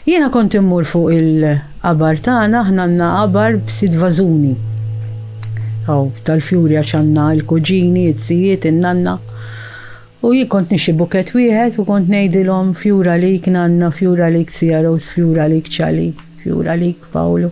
Jiena kont immur fuq il-qabar tagħna, aħna għandna qabar b'sitt vażuni. Aw tal-fjuri għax għandna l-kuġini, it-sijiet, in-nanna. U jien kont nixi buket wieħed u kont ngħidilhom fjura lik nanna, fjura lik sija Rose, fjura lik Ċali, fjura lik Pawlu.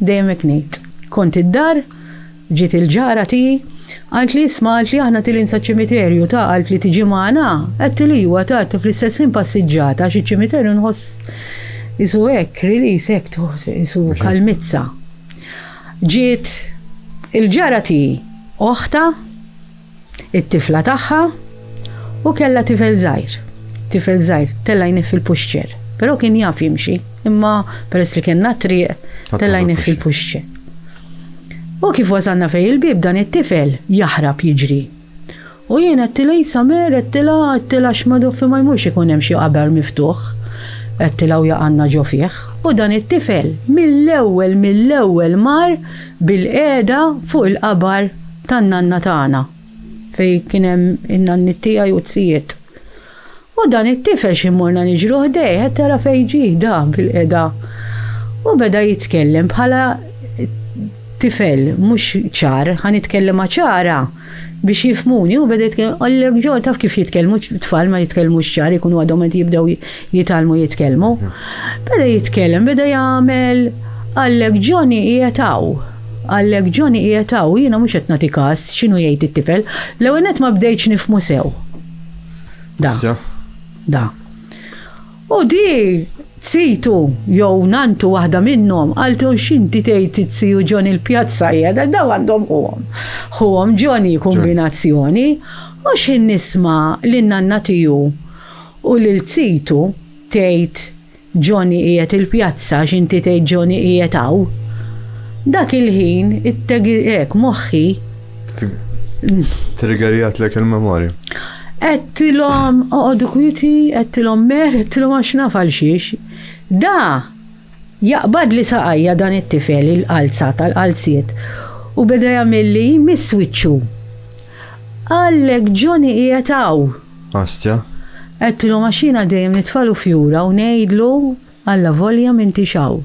Dejjem hekk ngħid. Kont id-dar, ġiet il-ġara tiegħi, qaltli isma' qaltli aħna tilin saċ-ċimiterju ta' qaltli tiġi magħna? Għedtli iwa ta' għedtli fl-istess ħin passiġġata għax iċ-ċimiterju nħoss qisu hekk release hekk qisu kalmizza. Ġiet il-ġara tiegħi, oħtha, it-tifla tagħha u kellha tifel żgħir. Tifel żgħir tella' jniff fil-puxċer, però kien jaf jimxi, imma peress li kellna triq tella' jniff fil-puxċer. U kif wasalna fej il-bib dan it-tifel jaħrab jiġri. U jien għettila jisamer, għettila, għettila xmadu fi ma jmux ikun hemm xi qabar miftuħ. Għettila u jaqanna ġo fih. U dan it-tifel mill-ewwel mill-ewwel mar bil-qeda fuq il-qabar tan-nanna tagħna, fejn kien hemm in-nanniet tiegħi u t-tzijiet. U dan it-tifel xi morna niġru ħdejh, qed tara fejn ġie da bil-qeda. U beda jitkellem bħala tifel mhux ċar, ħa nitkellem ċara biex jifmuni u beda jitkellem għallek ġo taf kif jitkellmu tfal ma jitkellmux ċar ikunu għadhom qed jibdew jitalmu jitkellmu. Beda jitkellem, beda jagħmel għallek ġoni qiegħed hawn. Għallek Johnny qiegħed hawn, jiena mhux qed nagħti każ x'inhu jgħid it-tifel. L-ewwel nett ma bdejtx nifhmu sew. Da. Da. U di tsitu jew nantu waħda minnhom għaltu x'inti tgħid it-siju Johnny l-pjazza hija da daw għandhom ħuhom. Ħuhom Johnny kombinazzjoni u x'ħin nisma' lin nanna tiju u lil tsitu tgħid Johnny qiegħed il-pjazza għax inti tgħid Johnny qiegħed hawn. Dak il-ħin it-tegirek moħħi. Triggerjat lek il-memorja. Għettilom, oqodu kwiti, għettilom mer, għettilom għax nafal xiex. Da, jaqbad li saqajja dan it-tifel il-qalza tal-qalziet u beda jagħmel li miswiċċu. Għallek Johnny qiegħed hawn. Astja. Għedtilhom għax jiena dejjem nitfagħlu fjura u ngħidlu, Allavolja m'intix hawn.